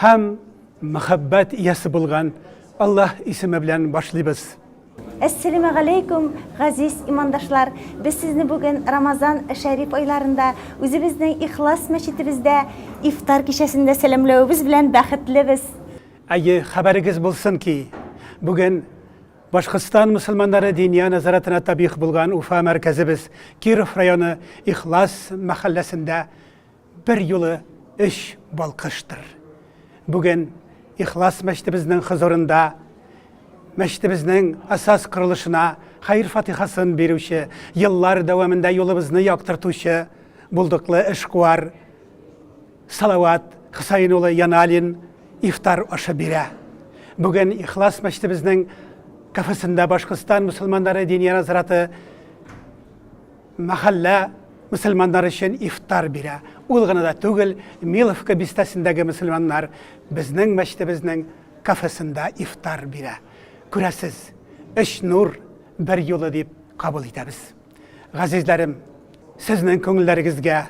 Һәм мәхәббәт иясе булган Аллаһ исеме белән башлыйбыз. Әссәләмә галәйкүм, газиз имандашлар! Без сезне бүген Рамазан шәриф айларында үзебезнең Ихлас мәчетебездә ифтар кичәсендә сәламләвебез белән бәхетлебез! Әйе, хәбәрегез булсын ки, бүген Башкортстан мөселманнары Диния назаратына табигъ булган Уфа мәркәзебез Киров районы Ихлас мәхәлләсендә Бер юлы өч балкыштыр. Бүген Ихлас мәчетебезнең хозурында мәчетебезнең асас корылышына хәер-фатихасын бирүче, еллар дәвамында юлыбызны яктыртучы булдыклы эшкуар Салават Хөсәен улы Яналин ифтар ашы бирә. Бүген Ихлас мәчетебезнең кафесында Башкортстан мусулманнары диния назараты мәхәллә мөселманнары өчен ифтар бирә. Ул гына да түгел, Миловка бистәсендәге мөселманнар безнең мәчетебезнең кафесында ифтар бирә. Күрәсез, өч нур бер юлы дип кабул итәбез. Газизләрем, сезнең күңелләрегезгә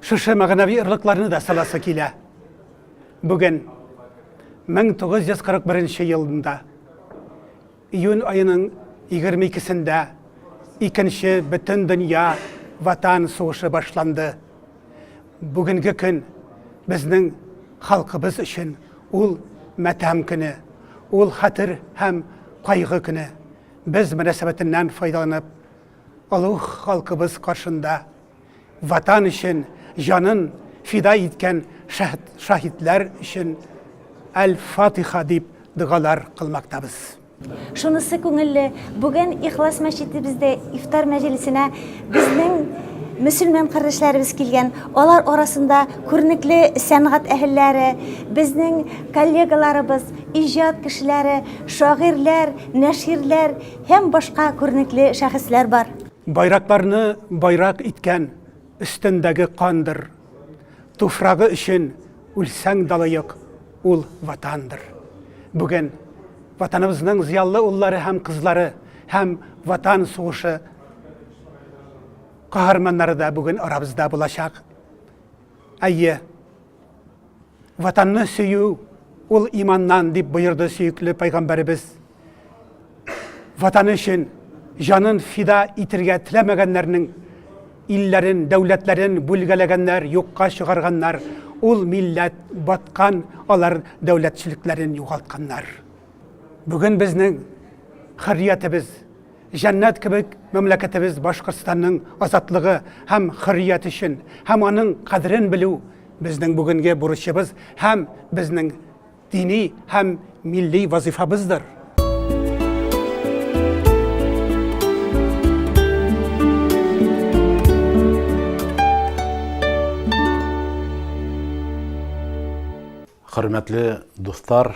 шушы мәгънәви орлыкларны да саласы килә. Бүген 1941 елында Июнь аеның егерме икесендә икенче Бөтендөнья Ватан сугышы башланды. Бүгенге көн безнең халкыбыз өчен ул матәм көне, ул хәтер һәм кайгы көне. Без мөнәсәбәтеннән файдаланып, олуг халкыбыз каршында, Ватан өчен җанын фида иткән шаһитлар өчен Әл-Фатиха дип догалар кылмактабыз. Шунысы күңелле, бүген Ихлас мәчетебездә ифтар мәҗлесенә безнең мөселман кардәшләребез килгән. Алар арасында күренекле сәнгать әһелләре, безнең коллегаларыбыз, иҗат кешеләре, шагыйрьләр, нәширләр һәм башка күренекле шәхесләр бар. Байракларны байрак иткән өстендәге кандыр. Туфрагы өчен үлсәң далыек, ул ватандыр. Бүген Ватаныбызның зыяллы уллары һәм кызлары һәм Ватан сугышы каһарманнары да бүген арабызда булачак. Әйе, Ватанны сөю ул иманнан дип боерды сөекле пайгамбәребез. Ватан өчен җанын фида итергә теләмәгәннәрнең илләрен, дәүләтләрен бүлгәләгәннәр, юкка чыгарганнар. Ул милләт баткан, алар дәүләтчелекләрен югалтканнар. Бүген безнең хөрриятебез Җәннәт кебек мәмләкәтебез Башкортстанның азатлыгы һәм хөррият өчен һәм аның кадерен белү безнең бүгенге бурычыбыз һәм безнең дини һәм милли вазыйфабыздыр. Хөрмәтле дуслар!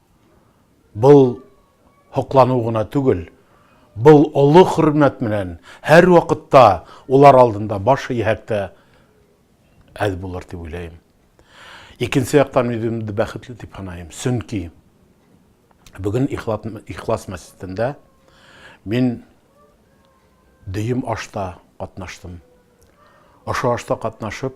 Был һоклану гына түгел, был олы хөрмәт менән һәрвакытта улар алдында баш иһәк тә әз булыр дип уйлыйм. Икенче яктан үземне бәхетле дип саныйм, чөнки бүген Ихлас мәчетендә мин дөем ашта катнаштым. Ошо ашта катнашып,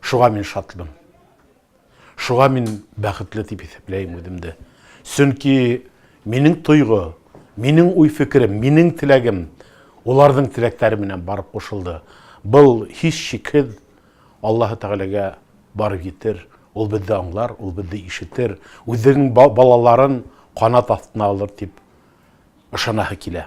Шуга мин шатмын. Шуга мин бәхетле дип исәпләйм үземне. Чөнки минем тойгы, минем уй-фикерем, минем теләгем уларның теләкләре белән барып кушылды. Был һич шикһез Аллаһы Тәгаләгә барып җитер. Ул безне аңлар, ул безне ишетер, үзенең балаларын канат астына алыр дип ышанаһы килә.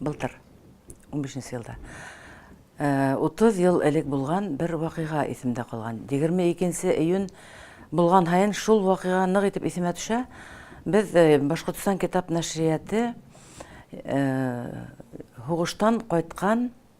Былтыр, унбишенче елда. Утыз ел элек булган бер вакыйга исемдә калган. Егерме икенче июнь булган һаен шул вакыйга нык итеп исемә төшә. Без Башкортстан китап нәшрияты һугыштан кайткан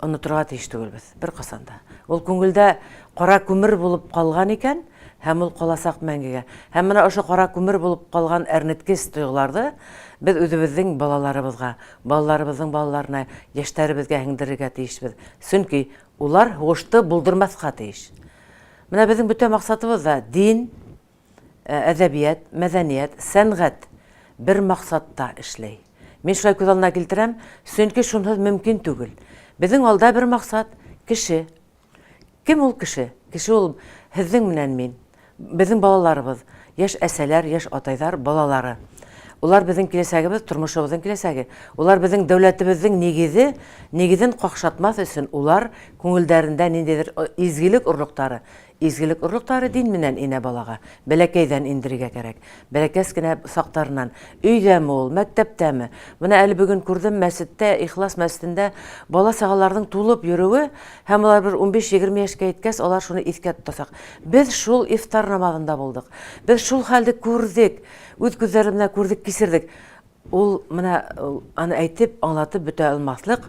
Онытырга тиеш түгелбез, беркасан да. Ул күңелдә кара күмер булып калган икән, һәм ул каласак мәңгегә. Һәм менә ошо кара күмер булып калган әрнеткеч тойгыларды без үзебезнең балаларыбызга, балаларыбызның балаларына, яшьтәребезгә һеңдерергә тиешбез. Чөнки улар һугышты булдырмаска тиеш. Менә безнең бөтә максатыбыз да дин, әдәбият, мәдәният, сәнгать бер максатта эшләй. Мин шулай күз алдына килтерәм, чөнки шунһыз мөмкин түгел. Безнең алда бер максат, кеше. Кем ул кеше? Кеше ул һезнең менән мин, безнең балаларыбыз, яшь әсәләр, яшь атайлар балалары. Улар безнең киләчәгебез, тормышыбызның киләчәге. Улар безнең дәүләтебезнең нигезе, нигезен какшатмас өчен улар күңелдәрендә ниндидер изгелек орлыктары, Изгелек орлыклары дин менән инә балага, бәләкәйдән индерергә кәрәк. Бәләкәс кенә сактарыннан. Өйдәме ул, мәктәптәме? Менә әле бүген күрдем, мәсеттә, Ихлас мәсетендә бала-чагаларның тулып йөрүе һәм алар бер унбиш-егерме яшькә еткәс, алар шуны искә тотасак. Без шул ифтар намазында булдык. Без шул хәлде күрдек. Үз күзләребез белән күрдек, кичердек. Ул менә аны әйтеп, аңлатып бөтә алмаслык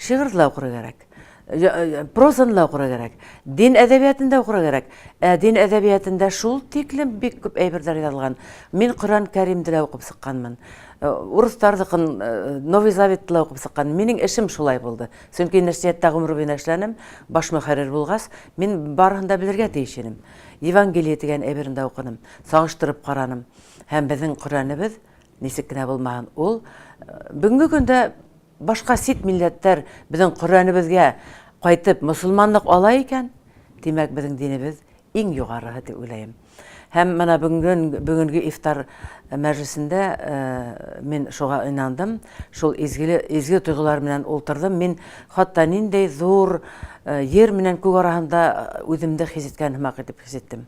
Шигырьне дә укырга кирәк. Прозаны да укырга кирәк. Дин әдәбиятын да укырга кирәк. Ә дин әдәбиятында шул тиклем бик күп әйберләр язылган. Мин Коръән Кәримде дә укып сыкканмын. Э, урыслардыкын э, Новый Заветты да укып сыккан. Минең эшем шулай булды. Чөнки нәшрияттә гомер буена эшләнем, баш мөхәррир булгач, мин барысын да белергә тиеш идем. Евангелие дигән әйберне дә укыдым, сагыштырып караным. Һәм безнең Коръәнебез ничек кенә булмаһын, ул э, бүгенге көндә Башка сит милләттәр безнең Коръәнебезгә кайтып мосылманлык ала икән, димәк безнең динебез иң югарыһы дип уйлаем. Һәм менә бүгенге бүгенге ифтар мәҗлесендә мин шуга инандым, шул изгеле изге тойгылар белән ултырдым. Мин хатта ниндәй зур җир менән күк арасында үземне хис иткән һымак итеп хис иттем.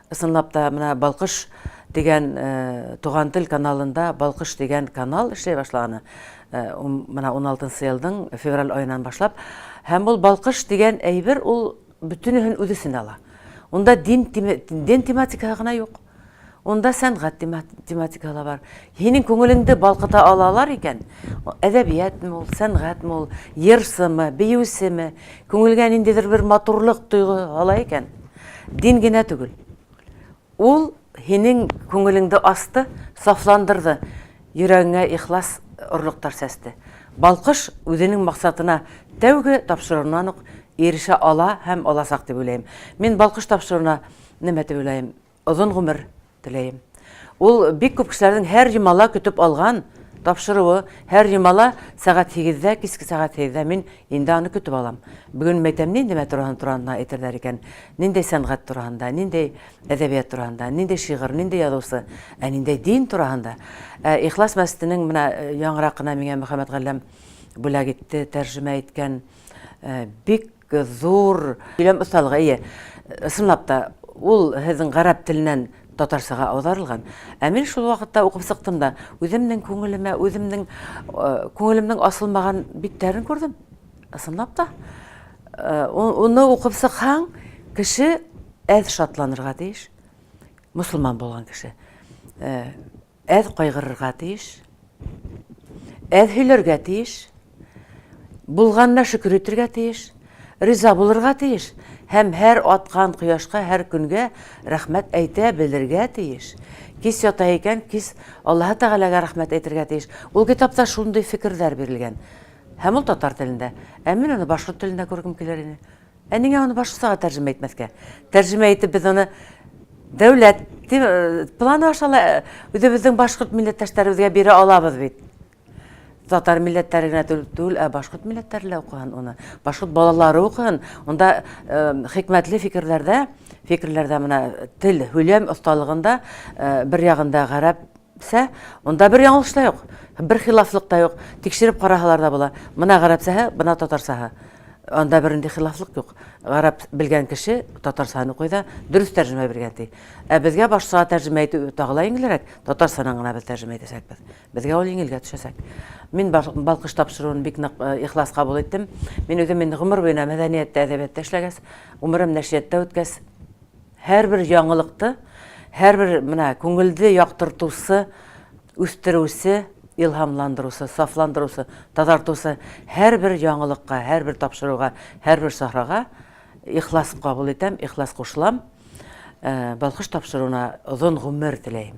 Ысынлап та, менә Балкыш дигән Туган тел каналында Балкыш дигән канал эшли башлаганы. Менә 16 елның февраль айынан башлап. Һәм ул Балкыш дигән әйбер ул бөтенеһен үз эченә ала. Унда дин тематикасы гына юк. Унда сәнгать тематика ла бар. Һинең күңелеңде балкыта алалар икән, әдәбиятме ул, сәнгатьме ул, йырчымы, биючеме, күңелгә ниндидер бер матурлык тойгы ала икән, дин генә түгел. Ул һинең күңелеңде асты, сафландырды, йөрәгеңә ихлас орлыктар чәчте. Балкыш үзенең максатына тәүге тапшыруыннан ук ирешә ала һәм алачак дип уйлыйм. Мин балкыш тапшыруына нәмә дип уйлыйм? Озын гомер теләем. Ул бик күп кешеләрнең һәр йомала көтеп алган тапшыруы, һәр йомала сәгать сигездә, киске сәгать сигездә мин инде аны көтеп алам. Бүген мәйтәм нинди мәтроһын туранда әйтерләр икән, ниндәй сәнгать туранда, ниндәй әдәбият туранда, ниндәй шигырь, ниндәй язучы, ә ниндәй дин туранда. Ә Ихлас мәсетенең менә яңракына миңа Мөхәммәт Галләм бүләк итте, тәрҗемә иткән бик Зур сөйләм осталыгы, әйе. Чынлап та, ул һезнең гарәп теленнән татарчага аударылган. Ә мин шул вакытта укып чыктым да, үземнең күңелемә, үземнең күңелемнең асылмаган битләрен күрдем. Чынлап та. Уны укып чыкһаң, кеше әз шатланырга тиеш. Мосылман булган кеше. Әз кайгырырга тиеш, әз һөйләргә тиеш, булганына шөкер итергә тиеш, риза булырга тиеш һәм һәр аткан кояшка, һәр көнгә рәхмәт әйтә белергә тиеш. Кис ята икән, кис Аллаһы Тәгаләгә рәхмәт әйтергә тиеш. Ул китапта шундый фикерләр бирелгән. Һәм ул татар телендә. Ә мин аны башкорт телендә күргем килер иде. Ә нигә аны башкасага тәрҗемә итмәскә? Тәрҗемә итеп без аны дәүләт планы аша ла үзебезнең башкорт милләттәшләребезгә бирә алабыз бит. Татар милләтләре генә түгел, ә башкорт милләтләре лә укыган уны. Башкорт балалары укыган. Унда хикмәтле фикерләрдә, фикерләрдә менә тел, һөйләм осталыгында бер ягында гарәп Сә, монда бер яңылыш та юк, бер хилафлык та юк, тикшереп караһалар да була, мына гарәпсәһе, бына татарсаһы, анда бернинди хилафлык юк, гарәп белгән кеше татарсаһын укый да, дөрес тәрҗемә биргән ди. Ә безгә башкача тәрҗемә итү тагы ла иңелрәк, татарсанан гына без тәрҗемә итәчәкбез. Безгә ул иңелгә төшәчәк. Мин Балкыш тапшыруын бик нык ихлас кабул иттем. Мин үзем инде гомер буена мәдәнияттә, әдәбиятта эшләгәс, гомерем нәшрияттә үткәс, Һәрбер яңалыкты, һәрбер менә күңелде яктыртусы, үстерүче, илһамландыручы, сафландыручы, тазартучы һәрбер яңалыкка, һәрбер тапшыруга, һәрбер сахрага ихлас кабул итәм, ихлас кушылам. Балкыш тапшыруына озын гомер теләем.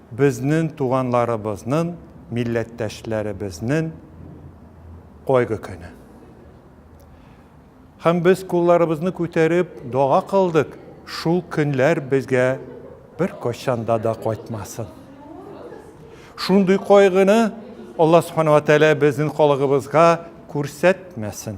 Безнен туганларыбызнын, милләттәшләребезнен кайгы көне. Һәм без кулларыбызны күтәреп дога кылдык, шул көнләр безгә беркайчанда да кайтмасын. Шундый кайгыны Алла Субхана ва Тәгалә безнен халыгыбызга күрсәтмәсен.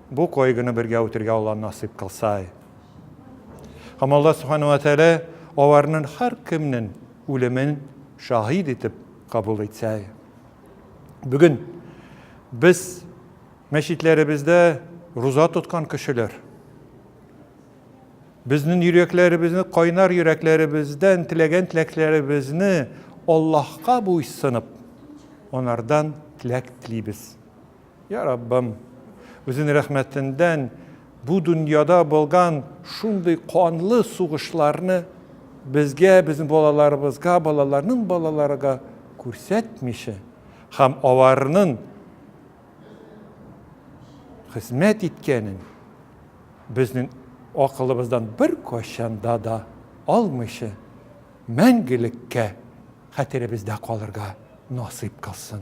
Бу койгыны бергә үтергә Алла насыйп кылсай. Һәм Алла Субхана ва Тәгалә аларнын һәркемнен үлемен шаһит итеп кабул итсәй. Бүген без мәчетләребездә руза тоткан кешеләр. Безнен йөрәкләребезне кайнар йөрәкләребездән теләгән теләкләребезне Аллаһка буйсынып, анардан теләк телибез. Я Раббым, үзен рәхмәтендән бу дөньяда булган шундый канлы сугышларны безгә, безнең балаларыбызга, балаларның балаларыга күрсәтмичә һәм аларның хезмәт иткәнен безнең акылыбыздан бер кайчанда да алмыйча мәңгелеккә хәтеребездә калырга насыйп кылсын.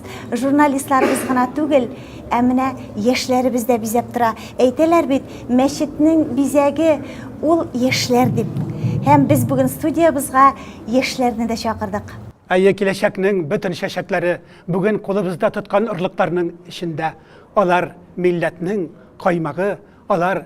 Журналистларыбыз гына түгел, ә менә яшьләребез дә бизәп тора. Әйтәләр бит, мәчетнең бизәге ул яшьләр дип. Һәм без бүген студиябызга яшьләрне дә чакырдык. Әйе, киләчәкнең бөтен чәчәкләре бүген кулыбызда тоткан орлыкларның эчендә. Алар милләтнең каймагы, алар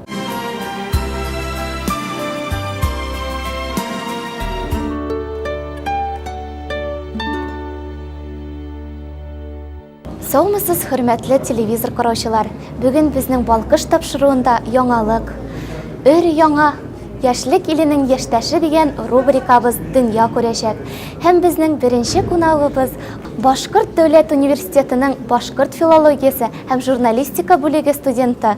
Саумысыз, хөрмәтле телевизор караучылар. Бүген безнең балкыш тапшыруында яңалык. Өр яңа Яшьлек иленең яшьтәше дигән рубрикабыз дөнья күрәчәк. Һәм безнең беренче кунагыбыз Башкорт дәүләт университетының башкорт филологиясе һәм журналистика бүлеге студенты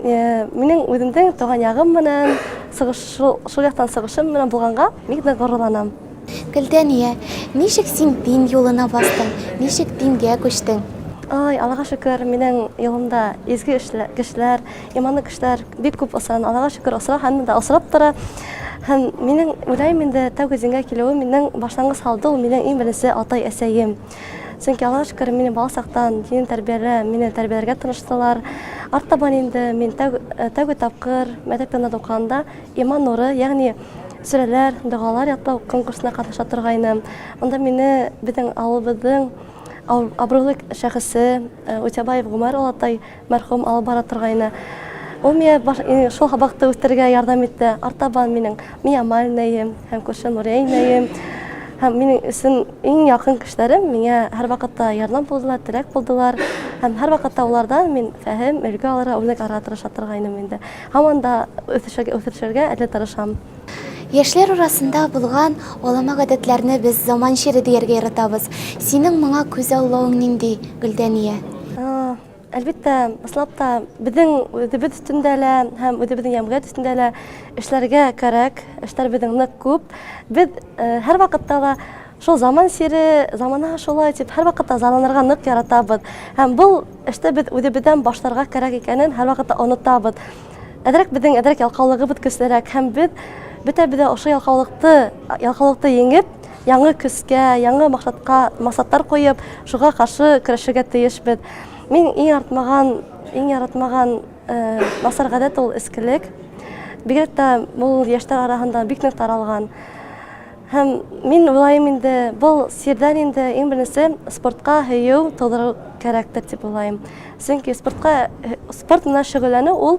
Э, минең үземнең туган ягым менән шул яктан сыгышым менән булганга бик тә горурланам гөлдәния ничек син дин юлына бастың ничек дингә күчтең ой аллага шөкер минең юлымда изге кешеләр иманлы кешеләр бик күп осран аллага шөкер осра һәм дә осрап тора һәм минең уйлайм инде тәүге дингә килүем минең башлангыч салды ул минең иң беренче атай әсәем Чөнки Аллага шөкер, мине баласактан дин тәрбияле, мине тәрбияләргә тырыштылар. Арттабан инде мин э, тәүге тапкыр мәктәп янында укыганда иман нуры, ягъни сүрәләр, догалар ятлау конкурсына катнаша торгайным. Анда мине безнең авылыбызның абруйлы шәхесе э, Утябаев Гумар Алатай Мәрхүм алып бара торгайны. Ул миңа баш, шул хабакты үстерергә ярдәм итте. Артабан минең Миямаль инәем һәм күрше Нурия инәем һәм минең өчен иң якын кешеләрем миңа һәрвакытта ярдәм булдылар, терәк булдылар. Һәм һәрвакытта алардан мин фәһем, өлге алырга, үрнәк алырга тырыша торгайным инде. Һаман да үсешергә, үсешергә әле тырышам. Яшьләр арасында булган алама гадәтләрне без заман чире дияргә яратабыз. Синең моңа күзаллавың нинди, Гөлдәния? Әлбәттә, башлап та безнең үзебез өстендә лә һәм үзебезнең җәмгыять өстендә лә эшләргә кәрәк. Эшләр безнең нык күп. Без һәрвакытта да шул заман сире, замана шулай дип, һәрвакытта зарланырга нык яратабыз. Һәм бу эштә без үзебездән башларга кирәк икәнен һәрвакытта онытабыз. Әзрәк безнең әзрәк ялкаулыгыбыз көчлерәк һәм без бөтәбез дә ошо ялкаулыкты, ялкаулыкты еңеп, Яңы көзгә, яңы максатка максатлар куеп, шуга каршы көрәшергә тиешбез. Мин иң артмаган, иң яратмаган насар гадәт ул эскелек. Бигрәк тә ул яшьләр арасында бик нык таралган. Һәм мин уйлаем инде, бул сирдән инде иң беренче спортка һөю тудыру кәрәктер дип уйлаем. Чөнки спортка спорт менә шөгыльләнү ул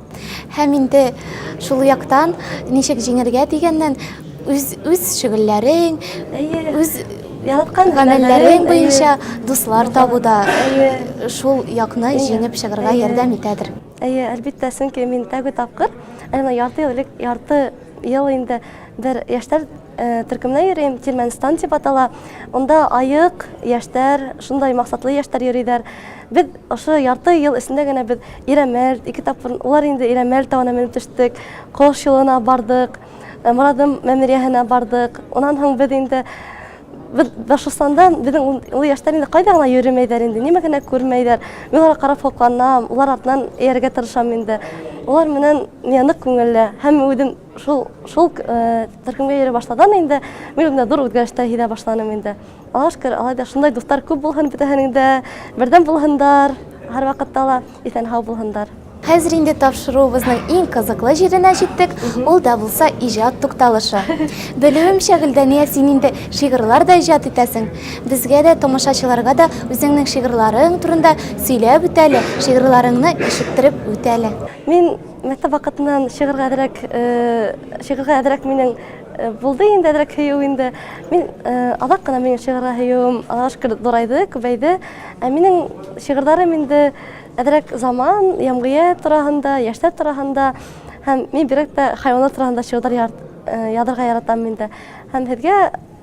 Һәм инде шул яктан ничек җиңергә дигәннән үз үз шөгыльләрең, үз яраткан гамәлләрең буенча дуслар табу да шул якны җиңеп чыгарга ярдәм итәдер. Әйе, әлбиттә, чөнки мин тәүге тапкыр, әнә ярты ел элек, ярты ел инде бер яшьләр Төркемнән йөрим, Тирмәнстан дип атала. Онда аек яшьтәр, шундай максатлы яшьтәр йөриләр. Без ошо ярты ел эчендә генә без Ирәмәл, ике тапкыр улар инде Ирәмәл тавына менеп төштек, Кош юлына бардык, Морадым мәмерияһенә бардык. Унан һоң без инде без Башкортстанда безнең ул яшьтәр инде кайда гына йөремәйләр инде, нимә генә күрмәйләр. Мин аларга карап сокланам, улар артыннан ияргә тырышам инде. Улар менән миңа нык күңелле һәм үзем Шул, шул төркемгә йөри башладым инде. Мин үземдә зур үзгәрештә һизә башланым инде. Аллаһуга шөкер, алай да шундай дуслар күп булһын бөтәһенең дә, бердәм булһындар, һәрвакытта ла исән-һау булһындар. Хәзер инде тапшыруыбызның иң кызыклы җиренә җиттек, ул да булса иҗат тукталышы. Белүемчә, Гөлдания, син инде шигырьләр дә иҗат итәсең. Безгә дә, тамашачыларга да үзеңнең шигырьләрең турында сөйләп үт әле, шигырьләреңне ишеттереп үт әле. Мин. Мәктәп вакытыннан шигырьгә әзрәк, шигырьгә әзрәк минең булды инде әзрәк һөю инде. Мин азак кына минем шигырьгә һөюем Аллага шөкер зурайды, күбәйде. Ә минем шигырьләрем инде әзрәк заман, ямгыять турагында, яшьләр турагында һәм мин бигрәк тә хайваннар турагында шигырьләр язарга яратам инде. Һәм сезгә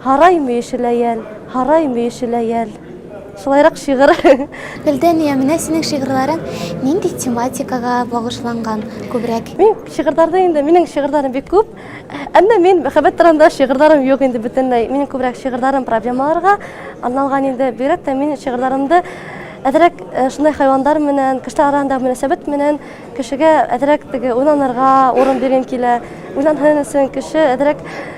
Һарай мөеше ләял, һарай мөеше ләял. Шулайрак шигырь. Фелдәния, менә синең шигырьләрең нинди тематикага багышланган күбрәк? Мин шигырьләрдә инде, минең шигырьләрем бик күп. Әмма мин мәхәббәт турында шигырьләрем юк инде бөтенләй. Минем күбрәк шигырьләрем проблемаларга арналган инде. Бигрәк тә мин шигырьләремдә әзрәк э, шундай хайвандар менән, кешеләр арасында мөнәсәбәт менән кешегә әзрәк теге уйланырга урын биргем килә. Уйланһын өчен кеше әзрәк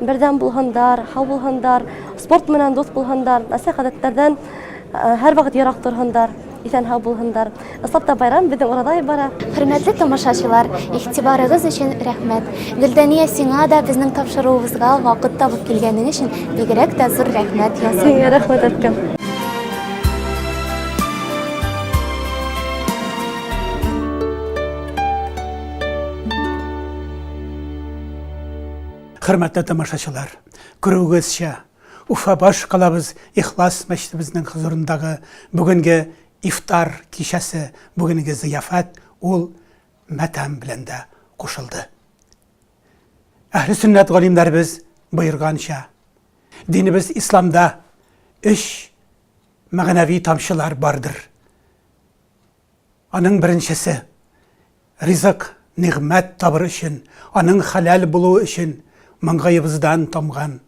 бердәм булһындар, һау булһындар, спорт менән дус булһындар, нәрсә гадәтләрдән һәр вакыт ерак торһындар, исән һау булһындар. Ыслап та байрам безнең урадай бара. Хөрмәтле тамашачылар, игътибарыгыз өчен рәхмәт. Гөлдания, сиңа да безнең тапшыруыбызга вакыт табып килгәнең өчен бигрәк тә зур рәхмәт ясыйм. Сиңа рәхмәт әйткән. Хөрмәтле тамашачылар, күрүегезчә, Уфа баш калабыз Ихлас мәчетебезнең хозурындагы бүгенге ифтар кичәсе, бүгенге зыяфәт ул матәм белән дә кушылды. Әһле сөннәт галимнәребез боерганча, динебез исламда өч мәгънәви тамчылар бардыр. Аның беренчесе, ризык, нигъмәт табыр өчен, аның хәләл булуы өчен маңгаебыздан тамган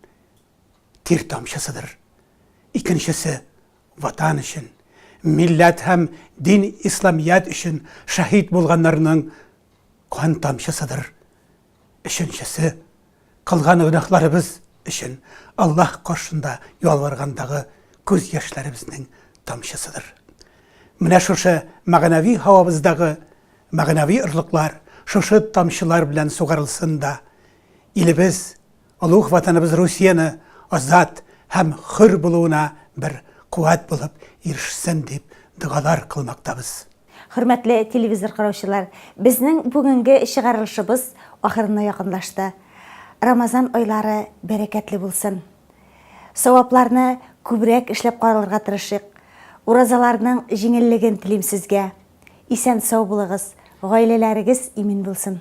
тир тамчысыдыр. Икенчесе, Ватан өчен, милләт һәм дин Исламият өчен шәһит булганнарның кан тамчысыдыр. Өченчесе, кылган гөнаһларыбыз өчен Аллаһ каршында ялваргандагы күз яшьләребезнең тамчысыдыр. Менә шушы мәгънәви һавабыздагы мәгънәви орлыклар шушы тамчылар белән сугарылсын да, илебез Олуг Ватаныбыз Русияне азат һәм хөр булуына бер куәт булып ирешсен дип догалар кылмактабыз. Хөрмәтле телевизор караучылар, безнең бүгенге чыгарылышыбыз ахырына якынлашты. Рамазан айлары бәрәкәтле булсын. Савапларны күбрәк эшләп каралырга тырышыйк. Уразаларның җиңеллеген телим сезгә. Исән-сау булыгыз, гаиләләрегез имин булсын.